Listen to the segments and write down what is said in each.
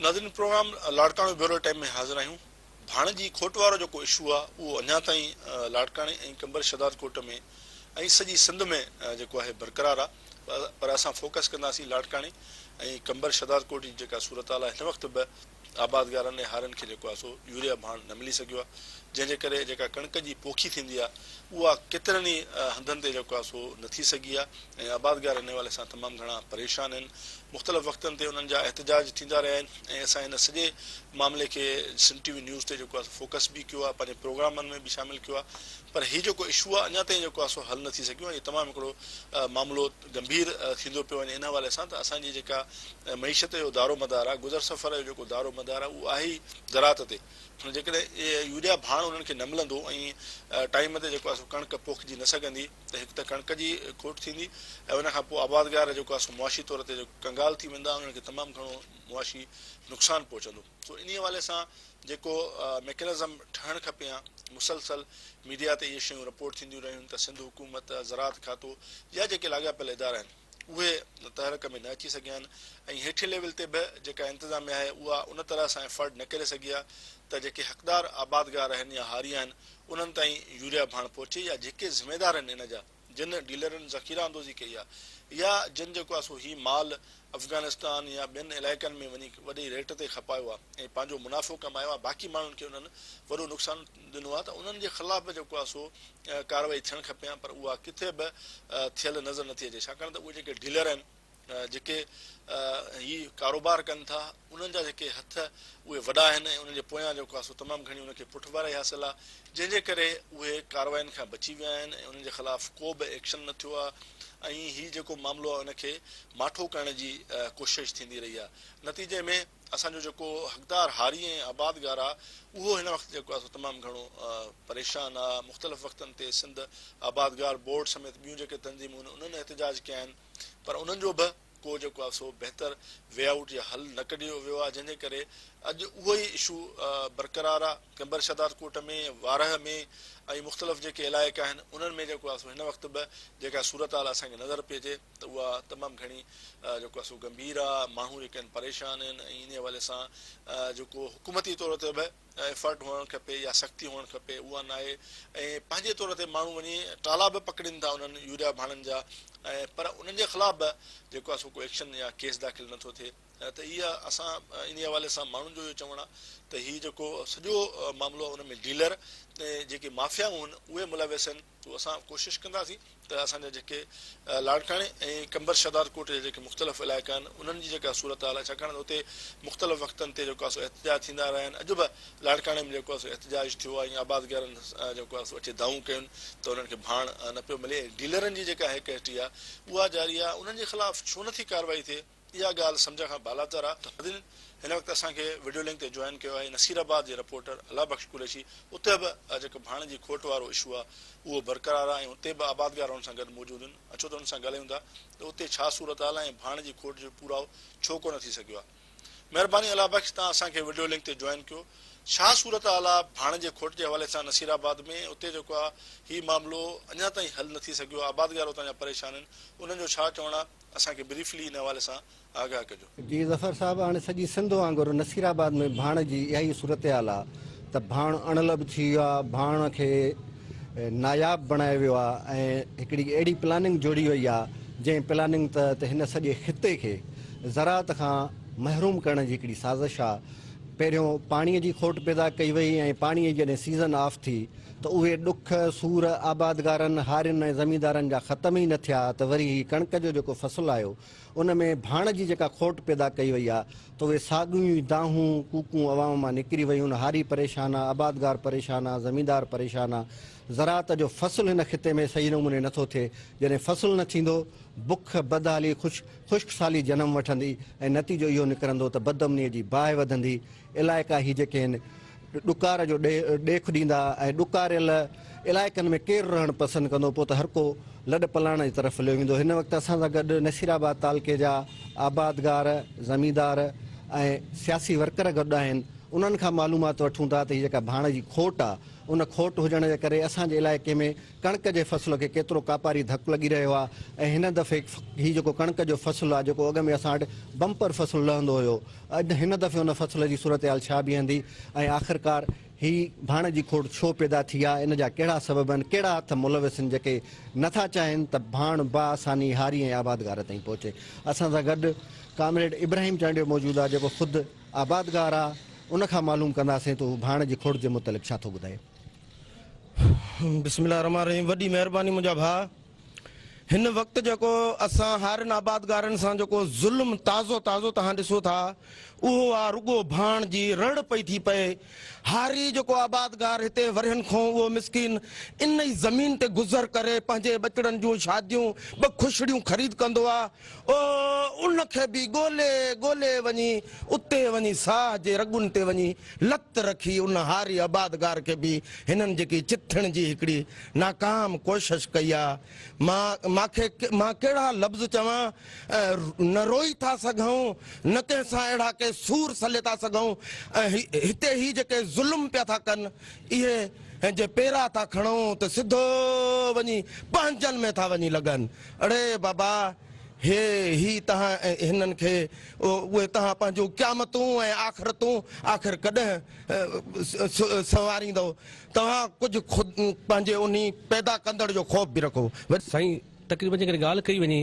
ناظرين programme Larkana bureau time ۾ حاضر آهيون ڀاڻجي کوٽوارو جيڪو اشو آ اهو اڃا تائين لاڙڪاڻي ۽ قمبر شهداد ڪوٽ ۾ ۽ سڄي سنڌ ۾ جيڪو آهي برقرار آ پر اسان فوڪس ڪنداسين لاڙڪاڻي ۽ قمبر شهداد ڪوٽ جي جيڪا صورتحال آ هن وقت به آبادگارن ۽ هارين کي جيڪو آهي سو يوريا ڀاڻ نه ملي سگهيو آهي جنهن جي ڪري جيڪا ڪڻڪ جي پوکي ٿيندي آهي اها ڪيترن ئي هنڌن تي جيڪو آهي سو نه ٿي سگهي آهي ۽ آبادگار ان حوالي سان تمام گهڻا پريشان آهن مختلف وقتن تي انهن جا احتجاج ٿيندا رهيا آهن ۽ اسان هن سڄي معاملي کي سنڌ ٽي وي نيوز تي جيڪو آهي سو فوڪس به ڪيو آهي پنهنجي پروگرامن ۾ به شامل ڪيو آهي پر هي جيڪو اشو آهي اڃا تائين جيڪو آهي سو حل نه ٿي سگهيو آهي ۽ تمام هڪڙو معاملو گنڀير ٿيندو پيو وڃي ان حوالي سان ته اسان جي جيڪا معيشت جو دارومدار آهي گذر سفر جو جيڪو دارومدار آهي اهو آهي ئي زراعت تي ۽ جيڪڏهن يوريا ڀاڻ انهن کي نه ملندو ۽ ٽائيم تي جيڪو آهي سو ڪڻڪ پوکجي نه سگهندي ته هڪ ته ڪڻڪ جي کوٽ ٿيندي ۽ ان کان پوء آبادگار جيڪو آهي سو معاشي طور تي ڪنگال ٿي ويندا انهن کي تمام گهڻو معاشي نقصان پهچندو. سو انهي حوالي سان جيڪو ميڪنزم ٺهڻ کپي ها، مسلسل ميڊيا تي اهي شيون رپورٽ ٿينديون رهيون ته سنڌ حڪومت، زراعت کاتو يا جيڪي لاڳاپيل ادارا آهن اهي تحرڪ ۾ نه اچي سگهيا آهن ۽ هيٺين ليول تي به جيڪا انتظاميا آهي اها ان طرح سان افورڊ نه ڪري سگهي آهي ته جيڪي حقدار آبادگار آهن يا هاري آهن انهن تائين يوريا ڀاڻ پهچي يا جيڪي ذميدار آهن ان جا جن ڊيلرن ذخيره اندوزي ڪئي آهي يا جن جيڪو آهي سو هي مال افغانستان يا ٻين علائقن ۾ وڃي وڏي ريٽ تي کپايو آهي ۽ پنهنجو منافعو ڪمايو آهي باقي ماڻهن کي انهن وڏو نقصان ڏنو آهي ته انهن جي خلاف به جيڪو آهي سو ڪارروائي ٿيڻ کپي هان پر اها ڪٿي به ٿيل نظر نٿي اچي ڇاڪاڻ ته اهي جيڪي ڊيلر آهن جيڪي هي ڪاروبار ڪن ٿا انهن جا جيڪي هٿ اهي وڏا آهن ۽ انهن جي پويان جيڪو آهي سو تمام گهڻي ان کي پٺڀرائي حاصل آهي جنهن جي ڪري اهي ڪاررواين کان بچي ويا آهن ۽ انهن جي خلاف ڪو به ايڪشن نه ٿيو آهي ۽ هي جيڪو معاملو آهي ان کي ماٺو ڪرڻ جي ڪوشش ٿيندي رهي آهي نتيجي ۾ اسان جو جيڪو حقدار هاري ۽ آبادگار آهي اهو هن وقت جيڪو آهي سو تمام گهڻو پريشان آهي مختلف وقتن تي سنڌ آبادگار بورڊ سميت ٻيون جيڪي تنظيمون آهن انهن احتجاج ڪيا آهن پر انهن جو به ڪو جيڪو آهي سو بهتر وي آئوٽ يا حل نه ڪڍيو ويو آهي جنهن جي ڪري اڄ اهو ئي اشو برقرار آهي قيمبر شهداد ڪوٽ ۾ وارهه ۾ ۽ مختلف جيڪي علائقا آهن انهن ۾ جيڪو آهي سو هن وقت به جيڪا صورتحال اسان کي نظر پئي اچي ته اها تمام گهڻي جيڪو آهي سو گنڀير آهي ماڻهو جيڪا آهن پريشان آهن ۽ انهي حوالي سان جيڪو حڪومتي طور تي به ايفرٽ هئڻ کپي يا سختي هئڻ کپي اها ناهي ۽ پنهنجي طور تي ماڻهو وڃي ٽالا به پڪڙين ٿا انهن يوريا ڀاڻن جا ۽ پر انهن جي خلاف به جيڪو آهي سو ڪو ايڪشن يا ڪيس داخل نه ٿو ٿئي ته اها اسان انهي حوالي سان ماڻهن جو اهو چوڻ آهي ته هي جيڪو سڄو معاملو آهي ان ۾ ڊيلر ۽ جيڪي مافيائون آهن اهي ملوث آهن تو اسان ڪوشش ڪنداسين ته اسان جا جيڪي لاڙڪاڻي ۽ قمبر شھدادڪوٽ جا جيڪي مختلف علائقا آھن انھن جي جيڪا صورتحال آھي ڇاڪاڻ ته اتي مختلف وقتن تي جيڪو آھي سو احتجاج ٿيندا رھيا آھن اڄ به لاڙڪاڻي ۾ جيڪو آھي سو احتجاج ٿيو آھي ۽ آبادگارن جيڪو آھي سو اچي دانھون ڪيون ته انھن کي ڀاڻ نه پيو ملي ۽ ڊيلرن جي جيڪا ھيڪ ھيٽي آھي اھا جاري آھي انھن جي خلاف ڇو نٿي ڪارروائي ٿئي. اها ڳالهه سمجهڻ کان بالاتر آهي ته ناظرين هن وقت اسان کي وڊيو لنڪ تي جوائن ڪيو آهي نصير آباد جي رپورٽر الله بخش قريشي اتي به جيڪو ڀاڻ جي کوٽ وارو اشو آهي اهو برقرار آهي ۽ اتي به آبادگار هن سان گڏ موجود آهن اچو ته هن سان ڳالهايون ٿا ته اتي ڇا صورتحال آهي ۽ ڀاڻ جي کوٽ جو پورائو ڇو ڪونه ٿي سگهيو آهي مهرباني الله بخش تان اسان کي وڊيو لنڪ تي جوائن ڪيو ڇا صورتحال آهي ڀاڻ جي کوٽ جي حوالي سان نصير آباد ۾ ۽ اتي جيڪو آهي هي معاملو اڃا تائين حل نه ٿي سگهيو آهي آبادگار اتان جا پريشان آهن انهن جو ڇا چوڻ آهي. اسان کي بريفلي ان حوالي سان آگاهه ڪجو. جي ظفر صاحب هاڻي سڄي سنڌ وانگر نصير آباد ۾ ڀاڻ جي اها ئي صورتحال آ ته ڀاڻ اڻلڀ ٿي ويو آ ڀاڻ کي ناياب بڻايو ويو آ ۽ هڪڙي اهڙي پلاننگ جوڙي وئي آ جنهن پلاننگ تحت هن سڄي خطي کي زراعت کان محروم ڪرڻ جي هڪڙي سازش آ پهريون پاڻي جي کوٽ پيدا ڪئي وئي ۽ پاڻي جڏهن سيزن آف ٿي ته اهي ڏک، سور، آبادگارن، هارين ۽ زميندارن جا ختم ئي نه ٿيا ته وري هي ڪڻڪ جو جيڪو فصل آيو ان ۾ ڀاڻ جي جيڪا کوٽ پيدا ڪئي وئي آ ته اهي ساڳيون ئي دانهون، ڪوڪون عوام مان نڪري ويون، هاري پريشان آ، آبادگار پريشان آ، زميندار پريشان آ، زراعت جو فصل هن خطي ۾ صحيح نموني نٿو ٿئي، جڏهن فصل نه ٿيندو، بک، بدحالي، خشڪ سالي جنم وٺندي ۽ نتيجو اهو نڪرندو ته بدامنيء جي باهه وڌندي، علائقا هي جيڪي هن ڏڪار جو ڏيک ڏيندا ۽ ڏڪاريل علائقن ۾ ڪير رهڻ پسند ڪندو پوء ته هر ڪو لڏ پلاڻ جي طرف هليو ويندو هن وقت اسان سان گڏ نصير آباد تعلقي جا آبادگار زميندار ۽ سياسي ورڪر گڏ آهن انهن کان معلومات وٺون ٿا ته هي جيڪا ڀاڻ جي کوٽ آهي ان کوٽ هجڻ جي ڪري اسان جي علائقي ۾ ڪڻڪ جي فصل کي ڪيترو ڪاپاري ڌڪ لڳي رهيو آهي ۽ هن دفعي هي جيڪو ڪڻڪ جو فصل آهي جيڪو اڳ ۾ اسان وٽ بمپر فصل لهندو هيو اڄ هن دفعي ان فصل جي صورتحال ڇا بيهندي ۽ آخرڪار هي ڀاڻ جي کوڙ ڇو پيدا ٿي آ ان جا ڪهڙا سبب آهن ڪهڙا هٿ ملوث آهن جيڪي نه ٿا چاهين ته ڀاڻ بآساني هاري ۽ آبادگار تائين پهچي اسان سان گڏ ڪامريڊ ابراهيم چانڊيو موجود آ جيڪو خود آبادگار آ ان کان معلوم ڪنداسين ته هو ڀاڻ جي کوڙ جي متعلق ڇا ٿو ٻڌائي. بسم الله الرحمٰن الرحيم وڏي مهرباني منهنجا ڀاء. هن وقت جيڪو اسان هارين آبادگارن سان جيڪو ظلم تازو تازو توهان ڏسو ٿا اهو آ رڳو ڀاڻ جي رڙ پئي ٿي پئي. هاري جيڪو آبادگار هتي ورهين کون اهو مسڪين ان ئي زمين تي گذر ڪري پنهنجي ٻچڙن جون شاديون ٻه کشڙيون خريد ڪندو آ. او ان کي به ڳولي ڳولي وڃي اتي وڃي ساهه جي رڳن تي وڃي لت رکي ان هاري آبادگار کي به هنن جيڪي چٿڻ جي هڪڙي ناڪام ڪوشش ڪئي آ مان مان کي مان ڪهڙا لفظ چوان نه روئي ٿا سگهون نه ڪنهن سان اهڙا ڪي سور سلي ٿا سگهون هتي هي جيڪي ظلم پيا ٿا ڪن اهي جي پيرا ٿا کڻون ته سڌو وڃي پنهنجن ۾ ٿا وڃي لڳن. اڙي بابا، هي هي تهان ۽ هنن کي، اهي تهان پنهنجون قيامتون ۽ آخرتون آخر ڪڏهن سنواريندؤ؟ توهان ڪجهه خود پنهنجي انهي پيدا ڪندڙ جو خوف به رکو. سائين تقريبن جيڪڏهن ڳالهه ڪئي وڃي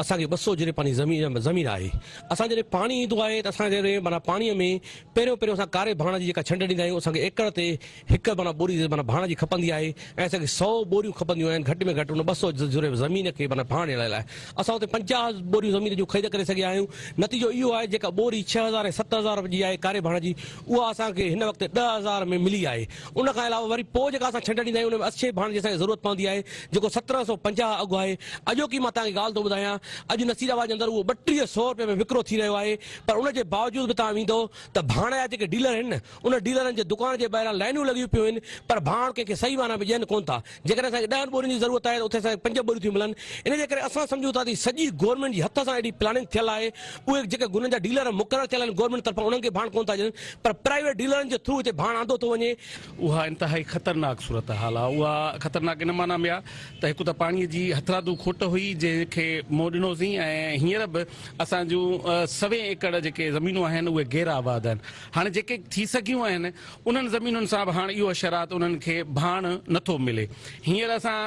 اسان کي ٻه سؤ جري پاني زمين آهي اسان جڏهن پاڻي ايندو آهي ته اسان جڏهن معنيٰ پاڻي ۾ پهريون پهريون اسان ڪاري ڀاڻ جي جيڪا ڇنڊ ڏيندا آهيون اسان کي ايڪڙ تي هڪ معنيٰ ٻوري معنيٰ ڀاڻ جي کپندي آهي ۽ اسان کي سؤ ٻوريون کپنديون آهن گهٽ ۾ گهٽ ان ٻه سؤ جرهه زمين کي معنيٰ ڀاڻ ڏيڻ لاء اسان اتي پنجاهه ٻوريون زمين جون خريد ڪري سگهيا آهيون نتيجو اهو آهي جيڪا ٻوري ڇهه هزار ۽ ست هزار رپين جي آهي ڪاري ڀاڻ جي اها اسان کي هن وقت ڏهه هزار ۾ ملي آهي ان کان علاوه وري پوء جيڪا اسان ڇنڊ ڏيندا آهيون ان ۾ اڇي ڀاڻ جي اسان کي ضرورت پوندي آهي جيڪو سترهن سؤ پنجاهه اگهه آهي اڄوڪي مان توهان کي ڳالهه ٿو ٻڌايان اڄ نصير آباد جي اندر اهو ٻٽيهه سؤ رپين ۾ وڪرو ٿي رهيو آهي پر ان جي باوجود به توهان ويندو ته ڀاڻ جا جيڪي ڊيلر آهن نه ان ڊيلرن جي دڪان جي ٻاهران لائينون لڳيون پيون هين پر ڀاڻ ڪنهن کي صحيح معنيٰ ۾ ڏين ڪونه ٿا. جيڪڏهن اسان کي ڏهن ٻورين جي ضرورت آهي ته اتي اسان کي پنج ٻوريون ٿيون ملن. ان جي ڪري اسان سمجهون ٿا ته هي سڄي گورنمينٽ جي هٿ سان اهڙي پلاننگ ٿيل آهي. اهي جيڪي گنن جا ڊيلر مقرر ٿيل آهن گورنمينٽ طرفان انهن کي ڀاڻ ڪونه ٿا ڏين پر پرائيويٽ ڊيلرن جي ٿرو هتي ڀاڻ آندو ٿو وڃي. اها انتهائي خطرناڪ صورتحال آهي. اها خطرناڪ ان معنيٰ ۾ آهي ته هڪ ته پاڻي جي هٿرادو کوٽ هئي جنهن کي منهن ڏنوسين ۽ هينئر به اسان جون سوين ايڪڙ جيڪي زمينون آهن اهي غير آباد آهن. هاڻ جيڪي ٿي سگهيون آهن انهن زمينن سان به هاڻ اهو حشرات انهن کي ڀاڻ نه ٿو ملي. هينئر اسان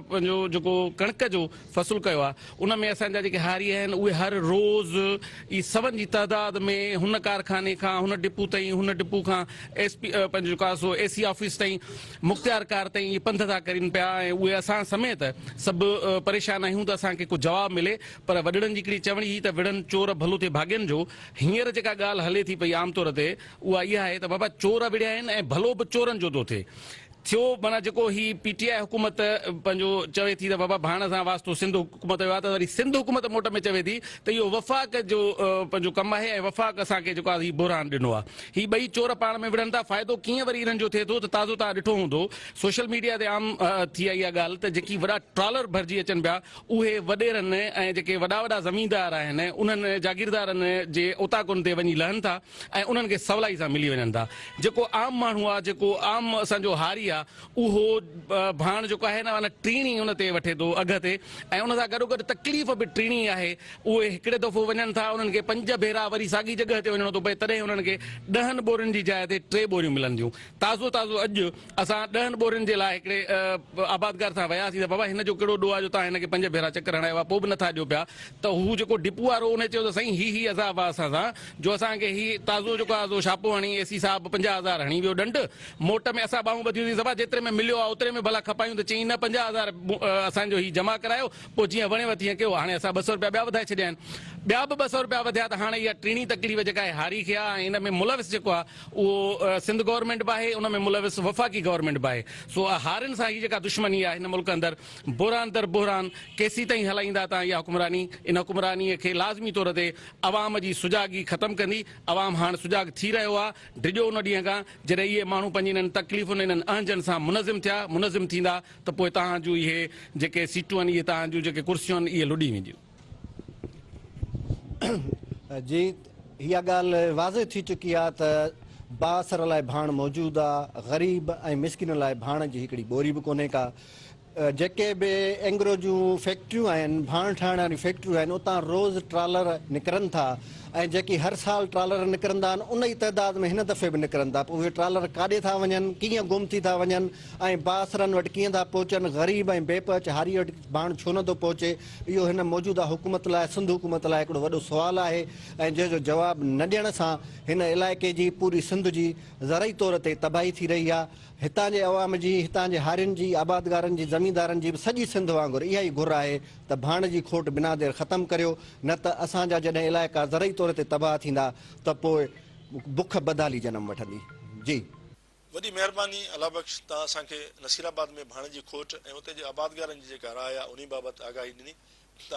پنهنجو جيڪو ڪڻڪ جو فصل ڪيو آهي ان ۾ اسان جا جيڪي هاري آهن اهي هر روز ئي سون جي تعداد ۾ هن ڪارخاني کان هن ڊپو تائين هن ڊپو کان ايس پي پنهنجو جيڪو آهي سو اي سي آفيس تائين مختيار ڪار تائين اهي پنڌ ٿا ڪرين پيا ۽ اهي اسان سميت سڀ پريشان آهيون ته اسان کي ڪو جواب ملي پر وڏڙن جي هڪڙي چوڻي هئي ته وڙهن چور ڀلو ٿئي ڀاڳين جو. هينئر جيڪا ڳالهه هلي ٿي پئي عام طور تي اها اها آهي ته بابا چور ابڙيا آهن ۽ ڀلو به چورن جو ٿو ٿئي. ٿيو معنيٰ جيڪو هي پي ٽي آء حڪومت پنهنجو چوي ٿي ته بابا ڀاڻ سان واسطو سنڌ حڪومت جو آهي ته وري سنڌ حڪومت موٽ ۾ چوي ٿي ته اهو وفاق جو پنهنجو ڪم آهي ۽ وفاق اسان کي جيڪو آهي هي بحران ڏنو آهي. هي ٻئي چور پاڻ ۾ وڙهن ٿا. فائدو ڪيئن وري انهن جو ٿئي ٿو ته تازو توهان ڏٺو هوندو سوشل ميڊيا تي عام ٿي آهي اها ڳالهه ته جيڪي وڏا ٽرالر ڀرجي اچن پيا اهي وڏيرن ۽ جيڪي وڏا وڏا زميندار آهن انهن جاگيردارن جي اوطاقن تي وڃي لهن ٿا ۽ انهن کي سولائي سان ملي وڃن ٿا جيڪو عام ماڻهو آ جيڪو عام اسان جو هاري آ اهو ڀاڻ جيڪو آهي نه ان ٽيڻي ان تي وٺي ٿو اگهه تي ۽ ان سان گڏوگڏ تڪليف به ٽيڻي ئي آهي اهي هڪڙي دفعو وڃن ٿا انهن کي پنج ڀيرا وري ساڳي جڳهه تي وڃڻو ٿو پئي تڏهن انهن کي ڏهن ٻورين جي جاء تي ٽي ٻوريون ملنديون تازو تازو اڄ اسان ڏهن ٻورين جي لاء هڪڙي آبادگار سان وياسين ته بابا هن جو ڪهڙو ڏوهه آ جو توهان هن کي پنج ڀيرا چڪر هڻايو آ پوء به نٿا ڏيو پيا ته هو جيڪو ڊپو وارو انهي چيو ته سائين هي هي عذاب آ اسان سان جو اسان کي هي تازو جيڪو آ سو شاپو هڻي اي سي صاحب پنجاهه هزار هڻي ويو ڏنڊ موٽ ۾ اسان ٻانهون ٻڌيون سين صبا جيتري ۾ مليو آ اوتري ۾ ڀلا کپايون ته چيائين نه پنجاهه هزار اسان جو هي جمع ڪرايو پوء جيئن وڻيو تيئن ڪيو هاڻي اسان ٻه سؤ روپيا ٻيا وڌائي ڇڏيا آهن ٻيا به ٻه سؤ روپيا وڌيا ته هاڻي اها ٽيڻي تڪليف جيڪا آهي هاري کي آ ۽ ان ۾ ملوث جيڪو آ اهو سنڌ گورنمينٽ به آهي ان ۾ ملوث وفاقي گورنمينٽ به آهي سو هارين سان هي جيڪا دشمني آهي هن ملڪ اندر بحران در بحران ڪيسين تائين هلائيندا تان اها حڪمراني ان حڪمراني کي لازمي طور تي عوام جي سجاڳي ختم ڪندي عوام هاڻ سجاڳ ٿي رهيو آهي ڊڄو ان ڏينهن کان جڏهن اهي ماڻهو پنهنجي انهن تڪليفن انهن اهنجن سان منظم ٿيا منظم ٿيندا ته پوء توهان جون اهي جيڪي سيٽون آهن اهي توهان جون جيڪي ڪرسيون آهن اهي لڏي وينديون. جي اها ڳالهه واضح ٿي چڪي آهي ته بااثر لاء ڀاڻ موجود آهي، غريب ۽ مسڪين لاء ڀاڻ جي هڪڙي ٻوري به ڪونهي ڪا. جيڪي به اينگرو جون فيڪٽريون آهن، ڀاڻ ٺاهڻ واريون فيڪٽريون آهن، اتان روز ٽرالر نڪرن ٿا ۽ جيڪي هر سال ٽرالر نڪرندا آهن، ان ئي تعداد ۾ هن دفعي به نڪرن ٿا. پوء اهي ٽرالر ڪاڏي ٿا وڃن، ڪيئن گم ٿي ٿا وڃن ۽ بااثرن وٽ ڪيئن ٿا پهچن، غريب ۽ بي پهچ هاري وٽ ڀاڻ ڇو نٿو پهچي؟ اهو هن موجوده حڪومت لاء سنڌ حڪومت لاء هڪڙو وڏو سوال آهي ۽ جنهن جو جواب نه ڏيڻ سان هن علائقي جي پوري سنڌ جي زرعي طور تي تباهي ٿي رهي آهي هتان جي عوام جي هتان جي هارين جي آبادگارن جي زميندارن جي به سڄي سنڌ وانگر اها ئي گهر آهي ته ڀاڻ جي کوٽ بنا دير ختم ڪريو نه ته اسان جا جڏهن علائقا زرعي طور تي تباهه ٿيندا ته پوء بک بدحالي جنم وٺندي جي. وڏي مهرباني الله بخش توهان اسان کي نصير آباد ۾ ڀاڻيجي کوٽ ۽ اتي جي آبادگارن جي جيڪا راء آهي انهي بابت آگاهي ڏني توهان